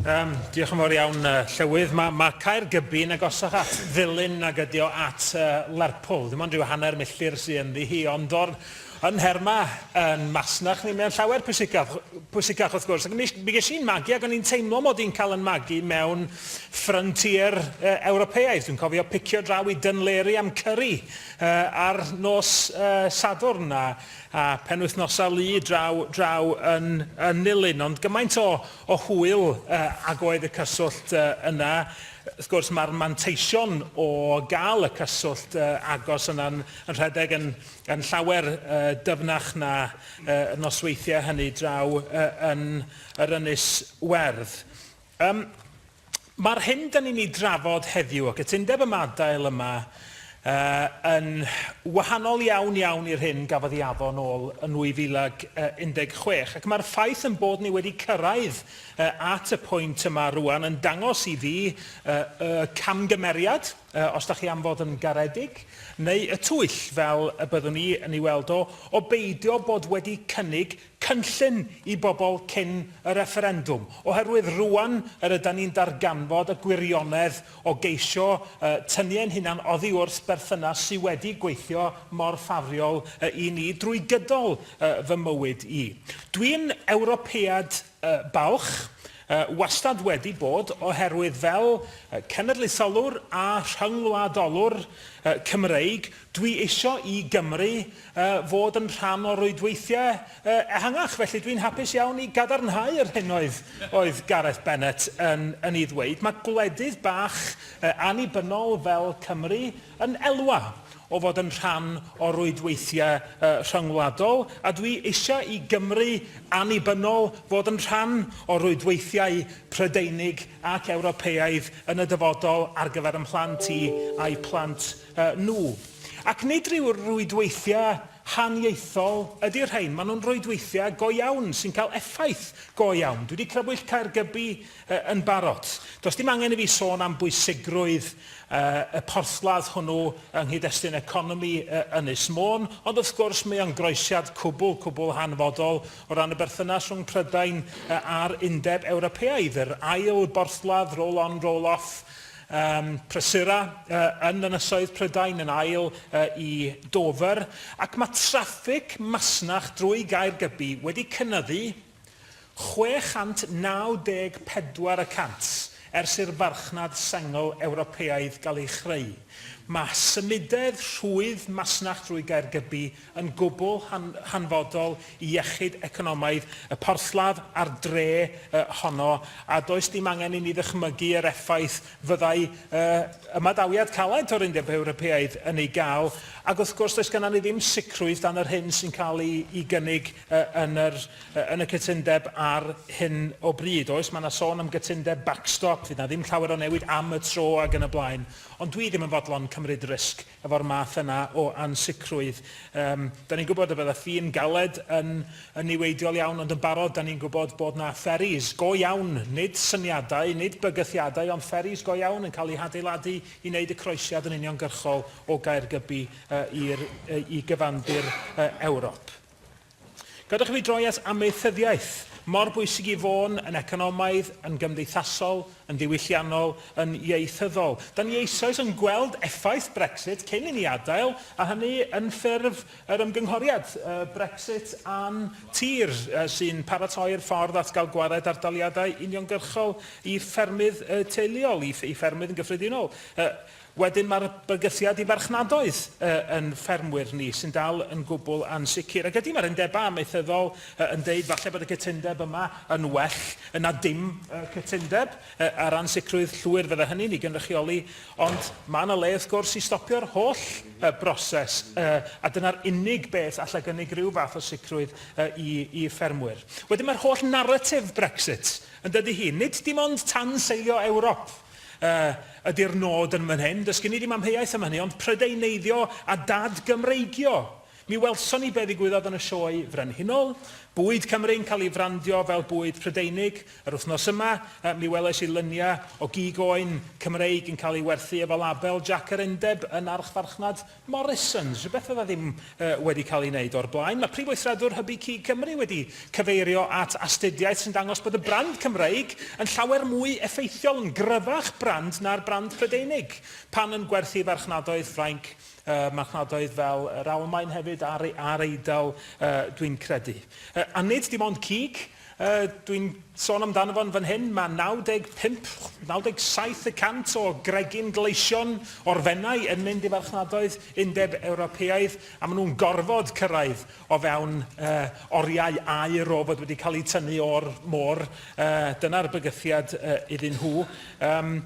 Um, diolch yn fawr iawn, uh, Llywydd. Mae ma Caergybi yn agosach at ddilyn nag ydi o at uh, Lerpwl. Dim ond rhyw hanner milltir sy'n ynddi hi, ond o'r yn nherma yn masnach ni, mae'n llawer pwysicach, pwysicach wrth gwrs. Ac mi, mi ges i'n magu ac o'n i'n teimlo mod i'n cael yn magu mewn ffryntier uh, Ewropeaidd. Dwi'n cofio picio draw i Dunleary am curry uh, ar nos uh, Sadwrn a a phenwythnosa lu draw draw yn yn Nulyn ond gymaint o o hwyl yy ag oedd y cyswllt yy yna wrth gwrs ma'r manteision o ga'l y cyswllt yy agos yna'n yn rhedeg yn yn llawer yy dyfnach na yy y nosweithie hynny draw yy yn yr Ynys Werdd. Yym. Mae'r hyn da ni'n ei drafod heddiw, y cytundeb ymadael yma, yn wahanol iawn iawn i'r hyn gafodd ei addo yn ôl yn 2016, ac mae'r ffaith ein bod ni wedi cyrraedd at y pwynt yma rŵan yn dangos i fi y camgymeriad, os da chi am fod yn garedig, neu y twyll, fel y byddwn i yn ei weld o, o beidio bod wedi cynnig cynllun i bobl cyn y refferendwm, oherwydd rŵan yr ydan ni'n darganfod y gwirionedd o geisio tynnu ein hunan oddi wrth berthynas sy wedi gweithio mor ffafriol i ni drwy gydol fy mywyd i. Dwi'n Ewropead balch, wastad wedi bod, oherwydd fel cenedlaetholwr a rhyngwladolwr Cymreig, Dwi isio i Gymru fod yn rhan o rwydweithiau ehangach, felly dwi'n hapus iawn i gadarnhau yr hyn oedd Gareth Bennett yn ei ddweud. Mae gwledydd bach annibynnol fel Cymru yn elwa o fod yn rhan o rwydweithiau rhyngwladol, a dwi eisiau i Gymru annibynnol fod yn rhan o rwydweithiau Prydeinig ac Ewropeaidd yn y dyfodol ar gyfer 'y mhlant i a'u plant nhw. Ac nid rhyw rwydweithiau haniaethol ydy'r rhain, maen nhw'n rwydweithiau go iawn sy'n cael effaith go iawn. Dwi wedi crybwyll Caergybi yn barod. Does dim angen i fi sôn am bwysigrwydd y porthladd hwnnw yng nghyd-destun economi Ynys Môn, ond wrth gwrs mae o'n groesiad cwbl, cwbl hanfodol o ran y berthynas rhwng Prydain a'r Undeb Ewropeaidd, yr ail borthladd roll-on, roll-off, Ym Prysura, yn Ynysoedd Prydain, yn ail i Dover, ac mae traffig masnach drwy Gaergybi wedi cynyddu 694 y cant ers i'r farchnad sengl Ewropeaidd gael ei chreu. Mae symudedd rhwydd masnach drwy Gaergybi yn gwbl hanfodol i iechyd economaidd y porthladd a'r dre honno, a does dim angen i ni ddychmygu yr effaith fyddai ymadawiad caled o'r Undeb Ewropeaidd yn ei gael, ac wrth gwrs does gennym ni ddim sicrwydd dan yr hyn sy'n cael ei gynnig yn y cytundeb ar hyn o bryd. Oes, mae yna sôn am gytundeb backstop, fydd yna ddim llawer o newid am y tro ac yn y blaen, ond dwi ddim yn fodlon cymryd risg efo'r math yna o ansicrwydd. Yym, 'dan ni'n gwybod y bydda ffin galed yn yn niweidiol iawn, ond yn barod 'dan ni'n gwybod bod 'na ferries go iawn, nid syniadau, nid bygythiadau, ond ferries go iawn yn cael eu hadeiladu i wneud y croesiad yn uniongyrchol o Gaergybi yy i'r yy i gyfandir yy Ewrop. Gadwch i fi droi at amaethyddiaeth, mor bwysig i Fôn, yn economaidd, yn gymdeithasol, yn ddiwylliannol, yn ieithyddol. Da ni eisoes yn gweld effaith Brexit cyn i ni adael, a hynny yn ffurf yr ymgynghoriad Brexit a'n tir, sy'n paratoi'r ffordd at gael gwared ardaliadau uniongyrchol i ffermydd teuluol, i ffermydd yn gyffredinol. Wedyn mae'r bygythiad i farchnadoedd yn ffermwyr ni sy'n dal yn gwbl ansicr. Ac ydy, mae'r undebau amaethyddol yn deud falle bod y cytundeb yma yn well na dim cytundeb ar ran sicrwydd llwyr fydde hynny'n ei gynrychioli, ond mae yna le wrth gwrs i stopio'r holl broses a dyna'r unig beth allai gynnig rhyw fath o sicrwydd i ffermwyr. Wedyn mae'r holl naratif Brexit, yn dydy hi, nid dim ond tanseilio Ewrop, Yy, ydi'r nod yn fan hyn. Does gen i ddim amheuaeth am hynny, ond Prydeineiddio a dad-Gymreigio! Mi welson ni be ddigwyddodd yn y Sioe Frenhinol. Bwyd Cymru'n cael ei frandio fel bwyd Prydeinig. Yr wythnos yma, yy, mi welais i lyniau o gig oen Cymreig yn cael ei werthu efo label Jac yr Undeb yn archfarchnad Morrisons, rhywbeth fydda ddim wedi cael ei wneud o'r blaen. Mae Prif Weithredwr Hybu Cig Cymru wedi cyfeirio at astudiaeth sy'n dangos bod y brand Cymreig yn llawer mwy effeithiol, yn gryfach brand na'r brand Prydeinig, pan yn gwerthu i farchnadoedd Ffrainc, marchnadoedd fel yr Almaen hefyd a'r Eidal dwi'n credu. A nid dim ond cig. Dwi'n sôn amdano fo'n fan hyn, mae 95, 97 y cant o gregyn gleision o'r Fenai yn mynd i farchnadoedd Undeb Ewropeaidd, a maen nhw'n gorfod cyrraedd o fewn uh, oriau aer o fod wedi cael eu tynnu o'r môr. Uh, Dyna'r bygythiad uh, iddyn nhw. Um,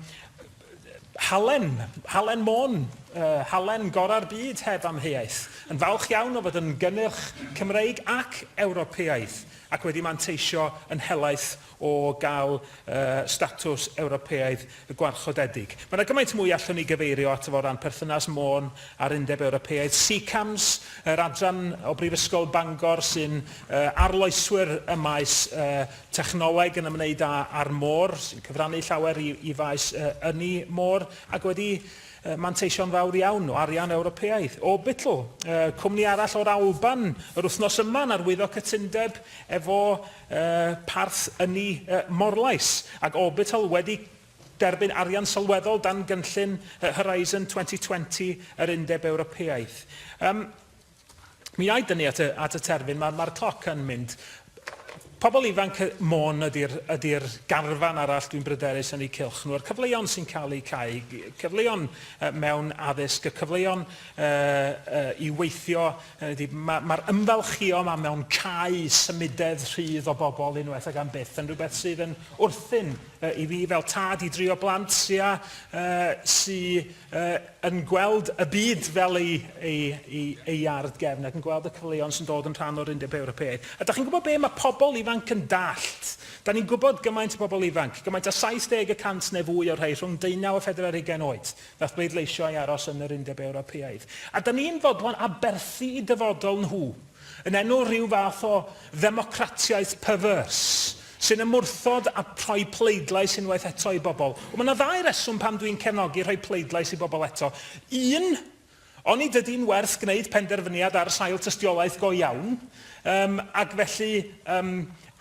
Halen, Halen Môn, uh, Halen gorau'r byd heb amheuaeth. Yn falch iawn o fod yn gynnyrch Cymreig ac Ewropeaidd ac wedi manteisio yn helaeth o gael uh, statws Ewropeaidd gwarchodedig. Mae yna gymaint mwy allwn ni gyfeirio at o ran perthynas Môn a'r Undeb Ewropeaidd. SECAMS, yr adran o Brifysgol Bangor sy'n uh, arloeswyr y maes uh, Technoleg yn ymwneud â a'r môr, sy'n cyfrannu llawer i i faes yy ynni môr, ac wedi yy manteisio'n fawr iawn o arian Ewropeaidd. Orbital, yy cwmni arall o'r Alban, yr wythnos yma yn arwyddo cytundeb efo yy parth ynni yy Morlais, ac Orbital wedi derbyn arian sylweddol dan gynllun yy Horizon 2020 yr Undeb Ewropeaidd. Yym. Mi ai dynnu at y, at y terfyn, mae'r ma cloc yn mynd. Pobl ifanc Môn ydy'r ydy garfan arall dwi'n bryderus yn eu cylch nhw. A'r cyfleon sy'n cael eu cau, cyfleon uh, mewn addysg, y cyfleon uh, uh, i weithio, uh, mae'r ma ymfalchio yma mewn cau symudedd rhydd o bobl unwaith ag am byth yn rhywbeth sydd yn wrthyn uh, i fi fel tad i drio blant sy'n uh, sy uh, yn gweld y byd fel ei, ei, ei, ei ard gefn ac yn gweld y cyfleon sy'n dod yn rhan o'r Undeb Ewropeaidd. A da chi'n gwybod be, mae pobl ifanc yn dallt. Da ni'n gwybod gymaint o bobl ifanc, gymaint â 70 y cant neu fwy o'r rhai rhwng 19 a 40 ar hugain oed, nath bleidleisio i aros yn yr Undeb Ewropeaidd. A da ni'n fodlon aberthu i dyfodol nhw. yn enw rhyw fath o ddemocratiaeth perverse, sy'n ymwrthod â rhoi pleidlais unwaith eto i bobl. Wel, mae yna ddau reswm pam dwi'n cefnogi rhoi pleidlais i bobl eto. Un, onid ydy'n werth gwneud penderfyniad ar sail tystiolaeth go iawn, um, ac felly um,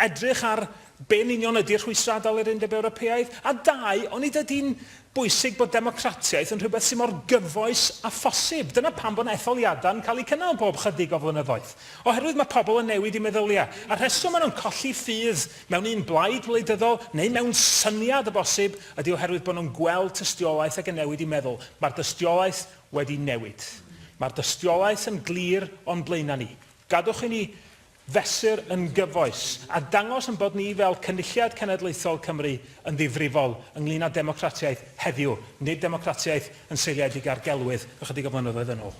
edrych ar Be yn union ydy rhwystrau adael yr Undeb Ewropeaidd? A dau, onid ydy'n bwysig bod democratiaeth yn rhywbeth sydd mor gyfoes â phosib? Dyna pam bod etholiadau yn cael eu cynnal bob 'chydig o flynyddoedd. Oherwydd mae pobl yn newid eu meddyliau. A'r rheswm maen nhw'n colli ffydd mewn un blaid wleidyddol, neu mewn syniad o bosib, ydy oherwydd bod nhw'n gweld tystiolaeth ac yn newid eu meddwl. Mae'r dystiolaeth wedi newid. Mae'r dystiolaeth yn glir o'n blaenau ni. Gadwch i ni fesur yn gyfoes, a dangos ein bod ni fel Cynulliad Cenedlaethol Cymru yn ddifrifol ynglŷn â democratiaeth heddiw, nid democratiaeth yn seiliedig ar gelwydd ychydig o flynyddoedd yn ôl.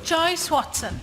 Joyce Watson.